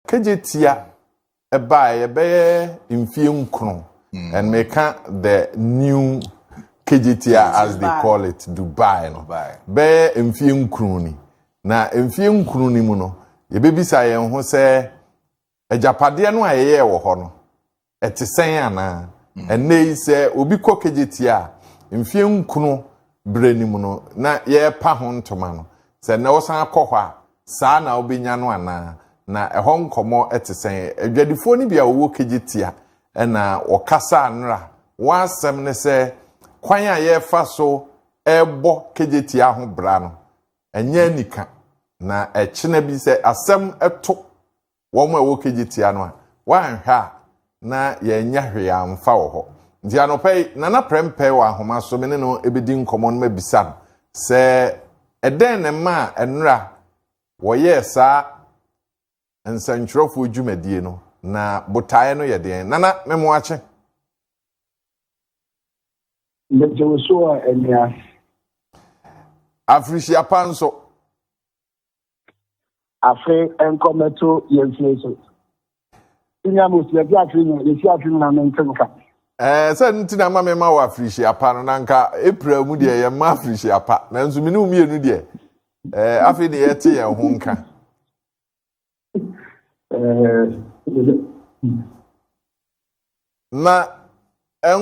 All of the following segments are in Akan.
Kagye tia ɛbaa yɛ bɛyɛ mfie nkron mm. and meka the new kagye tia as they call it Dubai no bɛyɛ mfie nkron ni na mfie nkron ni mu no yɛbɛbisa yɛn ho sɛ agyapadeɛ no a yɛyɛ wɔ hɔ no Ɛte sɛn anaa? Ɛnnɛ yi sɛ obi kɔ Kejetia a, mfeɛ nkron berɛ no mu no na yɛrepa ho ntoma no, sɛ nnɛ wosan kɔ hɔ a, saa na wobɛnya no anaa? Na ɛhɔ nkɔmmɔ te sɛn? Adwadifoɔ no bi a wɔwɔ Kejetia na wɔkasa nnora. Wɔn asɛm ne sɛ, kwan a yɛrefa so rebɔ Kejetia ho bra no, ɛnyɛ anika, na ɛkyena bi sɛ asɛm to wɔn a wɔkegye tia no a, woanhwɛ a na yɛanya hwee amfa wɔ hɔ. Nti anɔpa yi, Nana Prempeh wɔ ahoma so, me ne no bɛdi nkɔmmɔ na mabisa no sɛ ɛdɛn na ɛmaa nnora wɔyɛɛ saa nsɛntwerɛfoɔ dwumadie no, na botaeɛ no yɛ deɛn. Nana, me moakye. Mete wo so a, Anuas. Afirihyia pa nso. afe nkɔ mɛto yɛn fie so nya mo fie bi afe nyina yɛsi afe nyina me nte nka ɛɛ sɛ no nti na ma mema wɔ afirihyia pa no na nka april mu deɛ yɛmma afirihyia pa nanso mene wo mmienu deɛ ɛɛ afei deɛ yɛte yɛn ho nka Na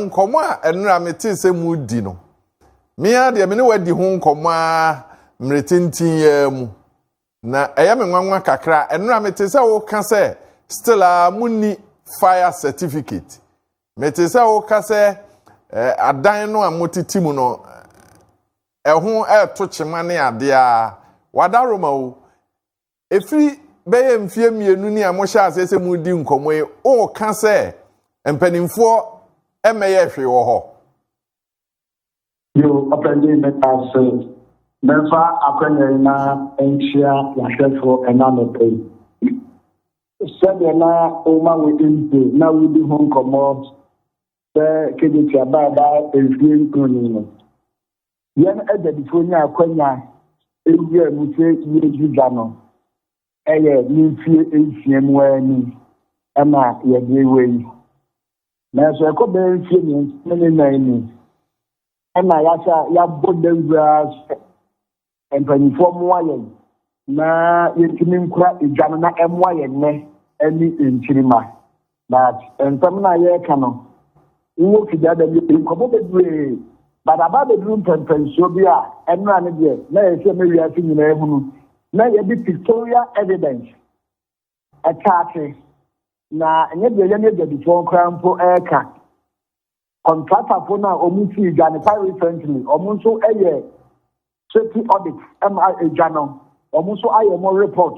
nkɔmmɔ a ɛnora metee sɛ mudi no, me ara deɛ me ne wadi ho nkɔmmɔ ara mmerɛ tenten yi ara mu. Na ɛyɛ me nwanwa kakra a, ɛnora mete sɛ woka sɛ still a monni fire certificate. Mete sɛ woka sɛ eh, adan no a motete mu no, ɛho ɛreto kyema ne adeɛ a, wada Roma o. Efi bɛyɛ mfeɛ mmienu ni a mohyɛɛ aseɛ sɛ moredi nkɔmmɔ yi, woreka sɛ mpanimfoɔ mmɛyɛɛ hwee wɔ hɔ. Yoo, Ɔpanyin, meda ase. Memfa akwanya yi na nkyea w'ahwɛfo ɛnnɛ anɔpa yi. Sɛdeɛ na woma wo mpo na wodi ho nkɔmmɔ sɛ Kedetia baa ɛbaa mfeɛ nkron ni no, Yɛn agyadifoɔ nyaa akwanya wuraa mu sɛ yɛredi dwa no yɛ ne mfeɛ nsia mu ara ni na yɛde rewa yi. Nanso ɛkɔ bɛyɛ mfeɛ mmiɛnsa ne ne nan mu na yɛasa yɛabɔ dawuraa sɛ mpanimfoɔ mmoa yɛn Na yɛntumi nkura egya no na ɛmmoa yɛn nnɛ ɛne nkyirimma. But nsɛm no a yɛreka no, wowɔ fidie ada mu, yɛdi nkɔmmɔ bebree, but aba abɛduru mpɛmpɛnsoɔ bi a ɛnora no deɛ na ɛsɛ sɛ ɛma wiase nyinaa hunu na yɛde pictorial evidence ɛka ase, na ɛnyɛ deɛ yɛne adwadifoɔ koraa mpo reka. Kɔntratafoɔ no a wɔsii dwa no quite recently, wɔn nso yɛ safety audit ma dwa no, wɔn nso ayɛ wɔn report,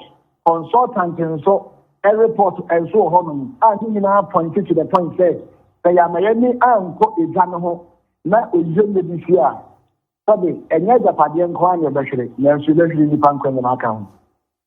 consultant nso report nso wɔ hɔnom a ne nyinaa point to the point sɛ sɛ yɛama yɛne ankɔ dwa no ho na oyie nyɛ bi si a sɛde ɛnyɛ agyapadeɛ nko ara na yɛbɛhwere nanso yɛbɛhwere nnipa nkwa nyinaa ka ho.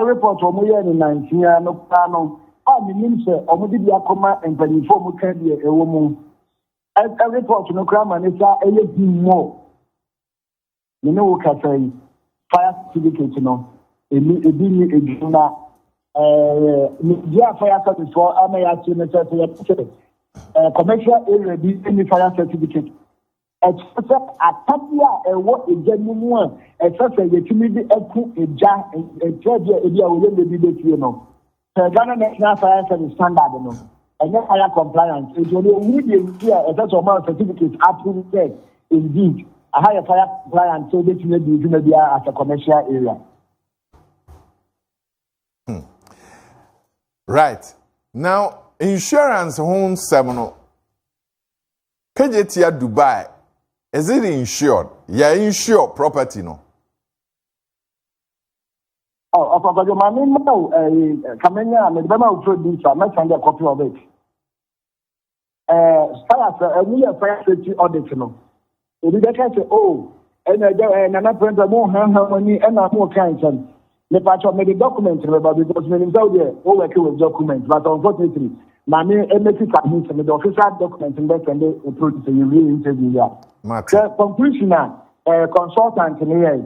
Report wɔn yɛɛ no nansia no koraa no a menim sɛ wɔn de bi akɔma mpanyinfoɔ a wɔn ka deɛ ɛwɔ mu ɛ report no koraa ma ne sa ɛyɛ him mɔ me ne wo kasa yi fire certificate no ɛni ebi ni edwuma na ɛɛ ne bi a fire service fɔ ama yɛ akyerɛ ne sɛ sɛ yɛ pɛsɛ ɛɛ commercial area bi ɛni fire certificate. Ɛkyerɛ sɛ apɛde a ɛwɔ egya no mu a ɛsɛ sɛ yɛtumi de aku egya nkyerɛ deɛ ebi a wɔyɛ lady bɛfie no. Sɛ Ghana National Fire Service standard no, ɛnyɛ fire compliant nti ɔno ɔhunu deɛ nti a ɛsɛ sɛ ɔma certificate approve sɛ indeed aha yɛ fire compliant sɛ wobɛtumi adi dwuma biara as a commercial area. Hmm. Right. Now, insurance ho nsɛm no, Pɛgye tia Dubai is it insured yɛ insure property no. Oh, Ọkọ Kwadwo, ma me mma o, eh, eh, ka menya a, mede bɛma wo producer, mɛsan dɛ copy of it. Eh, fire, sɛ ɛmu yɛ fire safety audit no, ebi bɛka sɛ, oh, ɛna agya, eh, nana pɛrɛntɛ, mo hɛnhɛn mo ani, ɛna mo ka nsɛm. mepakyɛ mede document no bɛba because menim sɛ wodeɛ wo work with document but unfortunately ma me ɛmɛsi ka ho sɛ mede official document no bɛsɛnde wo producer yɛwie interview yi a sɛ conclusion a uh, consultant no yɛe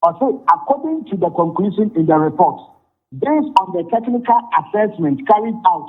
ɔse according to the conclusion in the report based on the technical assessment carried out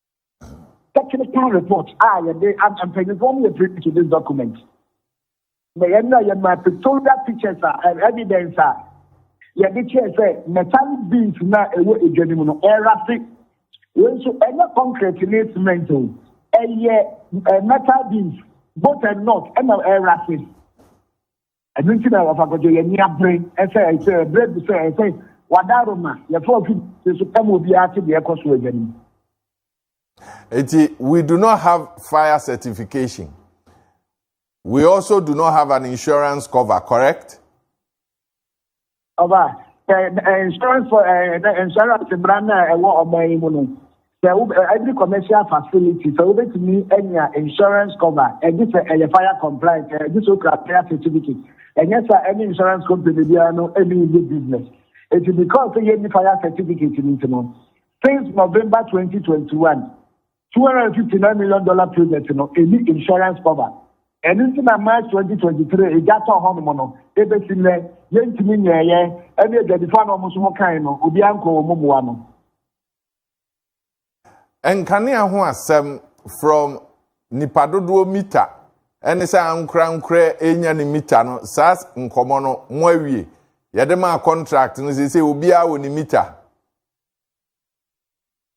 technical report a yɛde ama mpanyinfoɔ mu yɛ print to this document na yɛn na yɛ ma pictorial pictures a eh, evidence a yɛde kyerɛ sɛ metallic beams na ɛwɔ edwa no mu no ɛrafe wei nso ɛnyɛ concrete ne cement o ɛyɛ eh, metal beams both and not ɛna ɛrafe. Ɛno nti na wɔfa kɔtɔ yɛ ani abere ɛsɛ ɛsɛ ɛbrɛ bi sɛ ɛsɛ wada Roma yɛfa ofi ti so ɛma obiara te deɛ ɛkɔ so ɛgya nim. Eti we do not have fire certification. We also do not have an insurance cover, correct? ɔba sɛ insurance for insurance mmara no a ɛwɔ ɔman yi mu no sɛ wo every commercial facility sɛ wobɛtumi anya insurance cover ɛgye sɛ ɛyɛ fire compliant ɛgye sɛ okura fire certificate ɛnyɛ sɛ ɛne insurance company biara no ɛne yɛ business ɛti because yɛnni fire certificate no nti no since november 2021 two hundred and fifty nine million dollar project no ɛni insurance cover ɛno nti na march twenty twenty three egya tɔ hɔ nom no ebesi nnɛ yɛntumi nyɛɛyɛ ɛne adwadifoɔ na wɔn nso mo kan no obiara nkɔ wɔn mmoa no. Nkanea ho asɛm from nipa dodoɔ mita ɛne sɛ ankorankorɛ ɛnya ne mita no saa nkɔmɔ no mo awie yɛde maa contract no sɛ sɛ obiara wɔ ne mita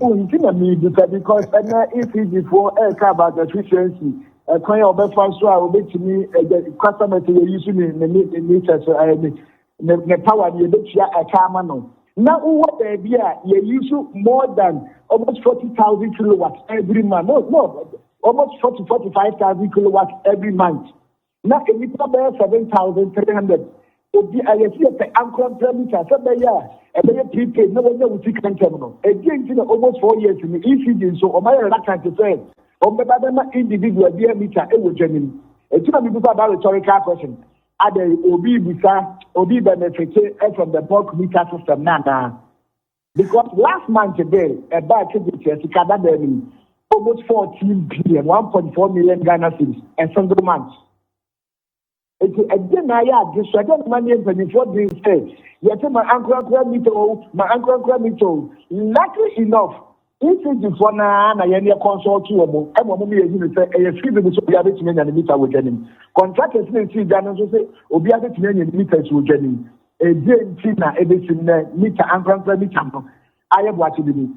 Oh, nti na mebisa because ɛnɛ ECGfoɔ ɛreka about efficiency ɛkwan a wɔbɛfa so a wɔbɛtumi ɛdɛ customer sɛ yɛyi so ne ne ne ne sɛ so ɛɛ ne ne ne power ne yɛbɛtua ɛka ama no na wowɔ baabi a yɛyi so more than almost forty thousand kilowatts every month no no almost forty forty five thousand kilowatts every month. Na nnipa bɛyɛ 7,300 odi a yɛsi yɛpɛ ankorankoran bi sa sɛ bɛyɛ a ɛbɛyɛ prepaid na wɔanya wo sika ntɛm no. Ɛdeɛn nti na almost four years ni ECD nso wɔn ayɛ reluctant sɛ wɔn bɛba bɛma individual biara mita wɔ dwa nim? Ɛti na mebisa that rhetorical question adɛn obi bisa obi benefite from the bulk meter system no anaa? Because last month dɛ ɛbaa Kegbe kyerɛ sika dadaa no mu almost fourteen billion, one point four million Ghana cedis, a single month. Nti ɛdeɛ na ayɛ ade so, ɛdeɛ na ma neɛ mpanyinfoɔ dwen sɛ yɛte ma ankorankora mita o, ma ankorankora mita o. Lucky enough, ECG foɔ no ara na yɛneɛ consult wɔn ma wɔn ma yɛhunu sɛ ɛyɛ free biribi sɛ obiara bɛtumi anya ne mita wɔ dwa no mu. Contractors na ɛsii dwa no nso sɛ obiara bɛtumi anya ne mitas wɔ dwa no mu. Ɛdeɛn nti na ɛbɛsi nnɛ mita ankorankora mita no ayɛ boakye dede?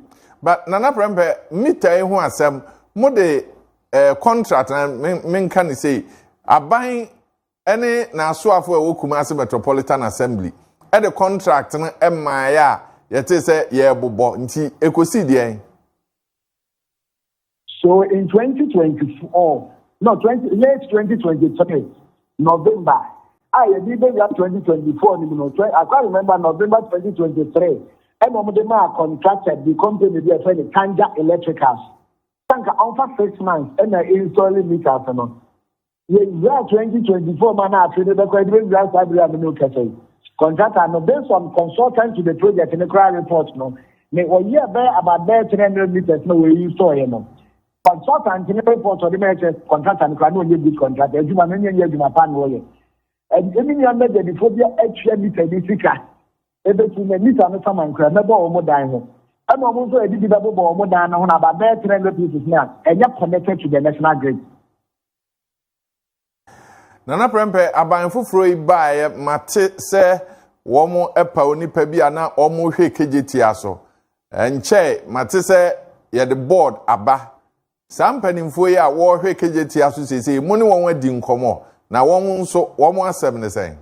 Ba Nana Prɛmpɛ, mita yi ho asɛm, mo de eh, contract na menka ne sei, aban ne n'asoafo a ɛwɔ Kumasi Metropolitan Assembly de contract no mmaeɛ a yɛte sɛ yɛrebobɔ nti ɛkɔsi deɛn? So in 2024, no, 20, late 2023, November, a yɛde bɛwura 2024 no mu no, I quite remember November 2023, ɛna wɔn de maa contractor bi company bi a ɛfɛ no Kanja Electricals. Sanka ɔnfa six months ɛna install meters no. Yewura twenty twenty four mu a na afe no bɛkɔ ɛde bɛwura saa bere a me ne wo kasa yi. Kɔntrata no, based on consultant to the project no koraa report no, ne ɔyɛɛ bɛyɛ about bɛyɛ three hundred meters na wɔayi nsɔɔeɛ no. Consultant no report ɔde ma yɛ sɛ kɔntrata no koraa na ɔnyɛ good kɔntrata, adwuma no nyɛ nyɛ adwuma pa na ɔyɛ. Ɛde me nua mɛdadifo bi atua mita ni sika, ɛbɛtu na mita no saman koraa, mɛbɔ wɔn dan ho. Ɛna wɔn nso ɛde bi bɛbobɔ wɔn dan no ho na about bɛyɛ three hundred pieces no a ɛnyɛ connected to the national grid. Nana Prɛmpɛ, aban foforɔ yi baeɛ mate sɛ wɔn ɛpa onipa bi a na wɔn hwɛ kegyetia so. Nkyɛe mate sɛ yɛde board aba. Saa mpanimfoɔ yi a wɔhwɛ kegyetia so sese yi, mo ne wɔn adi nkɔmɔ? Na wɔn nso, wɔn asɛm ne sɛn?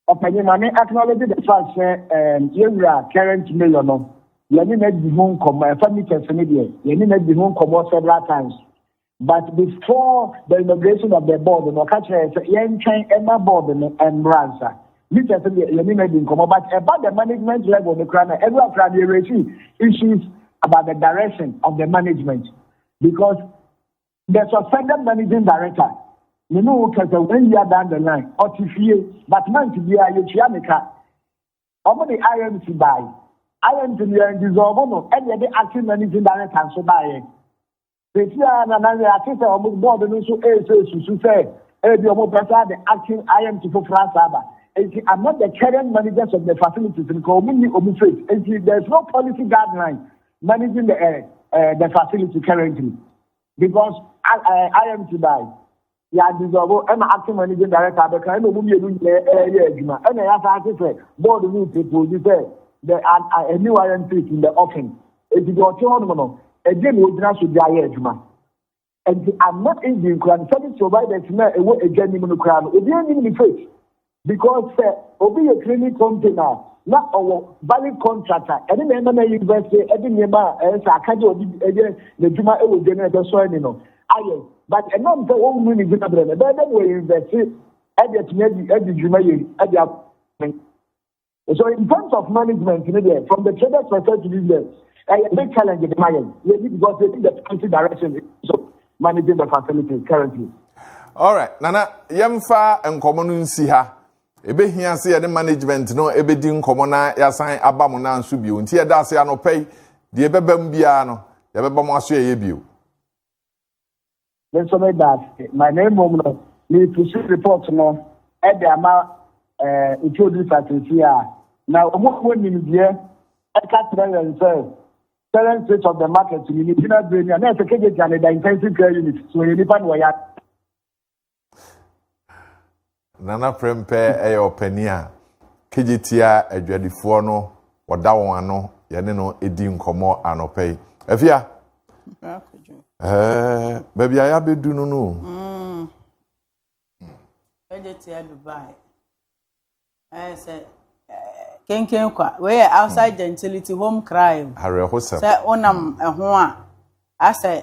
Ɔpanyin ma me acknowledge the fact sɛ ɛɛm yɛn wura current mayor no yɛne na di ho nkɔmɔ ɛfa meters ne deɛ yɛne na di ho nkɔmɔ several times but before the inauguration of the board no ɔka kyerɛ sɛ yɛntwɛn ɛma board no ɛmmra nsa meters no deɛ yɛne na di nkɔmɔ but ɛba the management level no kora na ɛwura kora no yɛresi issues about the direction of the management because The suspended managing director me ne wo kasa one year down the line ɔte fie but month biara yɛtua ne ka. Wɔn de IMC baae. IMC no yɛn dissolve no ɛna yɛde acting managing director nso baeɛ. Sɛsi a na na yɛate sɛ wɔn board no nso ɛresɛ susu sɛ ebi wɔn pɛ sɛ ade acting IMC foforɔ asa aba. Nti among the current managers of the facilities no ka wɔn nni wɔn faith. Nti there is no policy guideline managing the, uh, uh, the facility currently because I, uh, I am to die. yà dissolve ɛna acting managing director abɛka ɛna ɔmu mmienu nyinaa ɛyɛ adwuma ɛna yà san ase sɛ board no propose sɛ the a new iron piece in the offing eti deɛ ɔte hɔ nom no ɛdi na ogyina so de ayɛ adwuma. Enti amma Indian koraa no service providers no a ɛwɔ adwa anim no koraa no obiara nnim ne face because sɛ obi yɛ cleaning company a na ɔwɔ valid contract a ɛne na ɛma na university ɛde nneɛma a ɛyɛ sɛ akagye ɔde ɛyɛ n'adwuma ɛwɔ dwa no ɛbɛsɔ ani no ayɛ but ɛnam sɛ wɔn mu ne gyina berɛ no ɛbɛyɛ dɛ wɔ university ɛde atumi adi adi dwuma yɛ ɛde akɔ So in terms of management ne deɛ from the traders perspective ne deɛ ɛyɛ big challenge de ma yɛn yɛn ni because yɛn ni the country direction so managing the facilities currently. alright nana yɛmfa nkɔmɔ no nsi ha ebehia sɛ yɛne management no ebedi nkɔmɔ na yɛasan aba mo nan so bio nti yɛda ase anɔpɛ yi deɛ ɛbɛba mu biara no yɛbɛba mo aso yɛyɛ bio. Me nso meda ase ma na mmom no merepusu report no de ama eh, introducer sisi a na wɔn a wɔn nimdeɛ ɛka kyerɛ yɛn sɛ current state of the market ni ne gyina bere ni a na ɛsɛ kegyegya ne da intensive care unit so yɛ nipa na wɔyɛ Nana Prempeh yɛ ɔpanin a kegye tia adwadifoɔ no, ɔda wɔn ano, yɛne no di nkɔmmɔ anɔpa yi. Afia, ɛɛ, baabi a yɛabɛdu no no. Mm. Kegye tia Dubai. Ɛɛ sɛ kenken kwa wei yɛ outside hmm. gentility home crime awerɛhosɛm sɛ wonam ɛho a asɛ